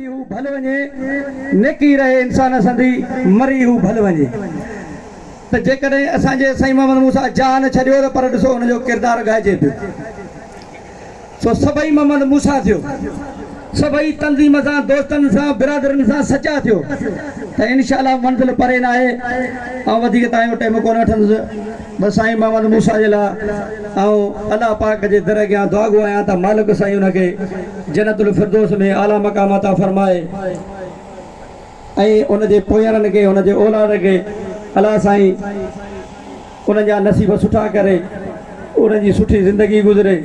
جي هو ڀل وڃي نيڪي رهي انسان سندي مري هو ڀل وڃي ته جيڪڏهن اسان جي سائين محمد موسيٰ جان ڇڏيو ته پر ڏسو ان جو ڪردار ڳائجي پيو. سو سڀئي محمد موسيٰ ٿيو. سڀئي تنظيم سان، دوستن سان، برادرن سان سچا ٿيو ته انشاء الله منزل پري ناهي. آئون وڌيڪ توهان جو ٽيم ڪونه وٺندس. بس سائين محمد موسيٰ جي لاء آئون الله پاڪ جي در اڳيان دعاگو آهيان ته مالڪ سائين ان کي جنت الفردوس ۾ اعليٰ مقام عطا فرمائي ۽ ان جي پويارن کي، ان جي اولاد کي الله سائين. انهن جا نصيب سٺا ڪري انهن جي سٺي زندگي گذري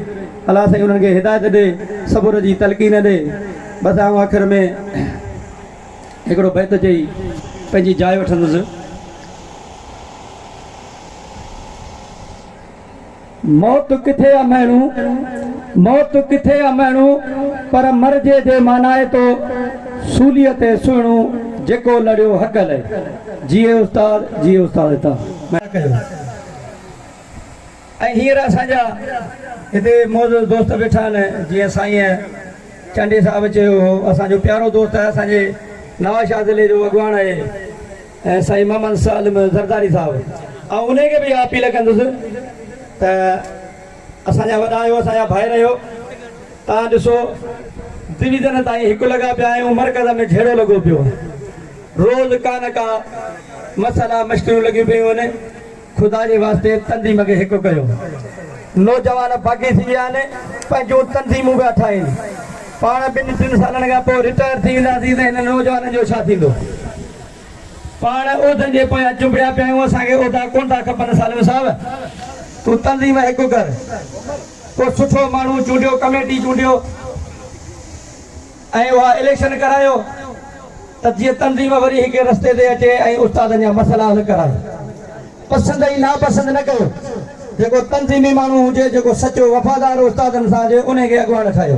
الله سائين انهن کي هدايت ڏي صبر جي تلقين ڏي بس آئون آخر ۾ هڪڙو بيت چئي پنهنجي جاء وٺندس. موت ڪٿي آ مهڻو موت ڪٿي آ مهڻو پر مرجي جي مانائي تو سوليء تي سهڻو جيڪو لڙيو حق لئي. جيئي استاد جيئي استاد هتان نه ڪيو ۽ هينئر اسان جا هتي معزز دوست ويٺا آهن جيئن سائين چانڊيي صاحب چيو هو اسان جو پيارو دوست آهي اسان جي نوابشاهه ضلعي جو اڳواڻ آهي سائين محمد سالم زرداري صاحب آئون انهي کي به اها اپيل ڪندس ته اسان جا وڏا آهيو اسان جا ڀائر آهيو تان ڏسو ڊويزن تائين هڪ لڳا پيا آهيون مرڪز ۾ جهيڙو لڳو پيو آهي روز ڪا نه ڪا مسئلا مشڪلون لڳيون پيون آهن خدا جي واسطي تنظيم کي هڪ ڪيو نوجوان باقي ٿي ويا آهن پنهنجون تنظيمون پيا ٺاهين پاڻ ٻن ٽن سالن کان پوء رٽائر ٿي وينداسين ته هنن نوجوانن جو ڇا ٿيندو. پاڻ عهدن جي پويان چنبڙيا پيا آهيون، اسان کي عهدا ڪونه ٿا کپن، سالم صاحب تون تنظيم هڪ ڪر، ڪو سٺو ماڻهو چونڊيو، ڪميٽي چونڊيو ۽ اها اليڪشن ڪرايو ته جيئن تنظيم وري هڪ رستي تي اچي ۽ استادن جا مسئلا حل ڪرائي. پسند ۽ ناپسند نه ڪيو، جيڪو تنظيمي ماڻهو هجي، جيڪو سچو وفادار استادن سان هجي، انهي کي اڳواڻ ٺاهيو.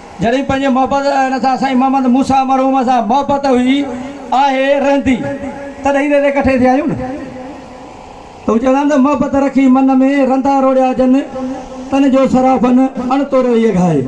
جڏهن پنهنجي محبت هن سان سائين محمد موسيٰ مرحوم سان محبت هئي، آهي، رهندي تڏهن ئي رلي ڪٺي ٿيا آهيون نه ته هو چوندا آهن ته محبت رکي من ۾، رندا روڙيا جن، تن جو سرابن، اڻ توريو هيء گهائي.